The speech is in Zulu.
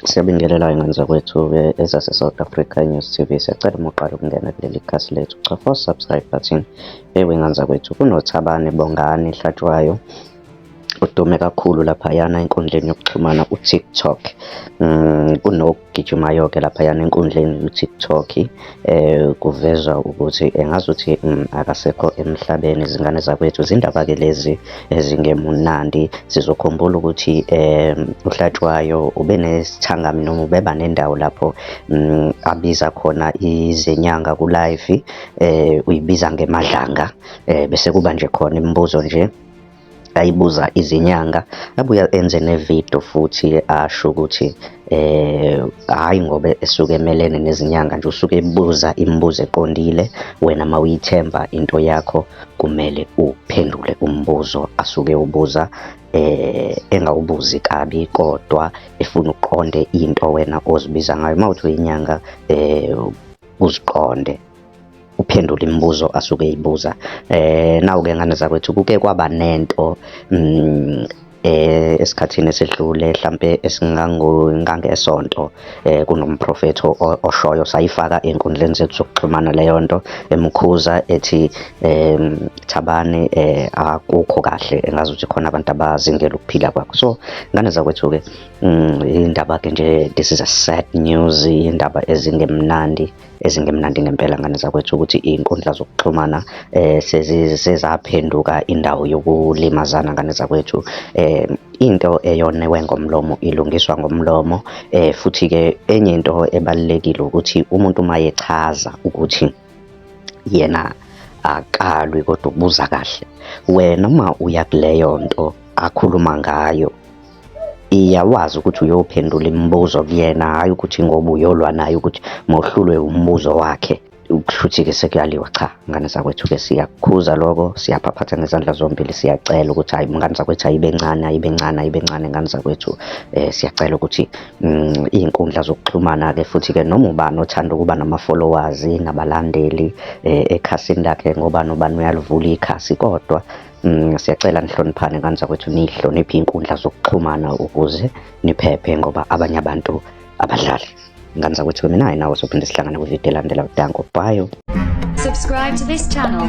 Siyabingelela ingane zakwethu ezase South Africa News TV siyacela uma uqala ukungena kuleli khasi lethu cofa subscribe button ewe ingane zakwethu kunothabane bongani hlatshwayo udume kakhulu laphayana enkundleni yokuxhumana uTikTok mm, kunogijimayo-ke laphayana enkundleni uTikTok eh kuvezwa ukuthi engazuthi mm, akasekho emhlabeni izingane zakwethu zindaba ke lezi ezingemunandi sizokhumbula ukuthi eh uhlatshwayo ube nesithangami noma ubeba nendawo lapho mm, abiza khona izenyanga ku live eh uyibiza ngemadlanga eh bese kuba nje khona imibuzo nje ayibuza izinyanga abuye enze nevidiyo futhi asho ukuthi eh hayi ngoba esuke emelene nezinyanga nje usuke ebuza imibuzo eqondile wena mawuyithemba into yakho kumele uphendule umbuzo asuke ubuza eh engawubuzi kabi kodwa efuna uqonde into wena ozibiza ngayo mawuthi uyinyanga eh uziqonde uphendula imibuzo asuke eyibuza eh nawu ke ngane zakwethu kuke kwaba nento mm, eh esikhathini esedlule mhlambe esingango ngangesonto eh kunomprofethi oshoyo sayifaka enkundleni zethu zokuxhumana leyo nto emkhuza ethi em thabane eh akukho kahle engazi ukuthi khona abantu abazingela ukuphila kwakho so ngane zakwethu ke mm, indaba ke nje this is a sad news indaba ezingemnandi ezingemnandi ngempela ngane zakwethu ukuthi iy'nkundla zokuxhumana um sezaphenduka indawo yokulimazana ngane zakwethu um into eyonewe ngomlomo ilungiswa ngomlomo um futhi-ke enye into ebalulekile ukuthi umuntu uma yechaza ukuthi yena akalwi kodwa ukubuza kahle wena uma uya kuleyo nto akhuluma ngayo iya wazi ukuthi uyophendula imibuzo kuyena hhayi ukuthi ngoba uyolwa naye ukuthi mohlulwe umbuzo wakhe kushuthi-ke sekuyaliwa cha ngane zakwethu-ke siyakukhuza loko siyaphaphatha ngezandla zombili siyacela ukuthi hayi mngane zakwethu ayibe ncane ayibe ncane ayibe ncane ngane zakwethu um siyacela ukuthi um iy'nkundla zokuxhumana-ke futhi-ke noma ubani othanda ukuba nama-followers nabalandeli um ekhasini lakhe ngobani ubani uyalivula ikhasi kodwa Mm, siyacela nihloniphane kanzakwethu nihloniphe inkundla zokuxhumana ukuze niphephe ngoba abanye abantu abadlali nganzakwethu weminaye nawe sophinde sihlangane kwividiyo elandela udanko bayo subscribe to this channel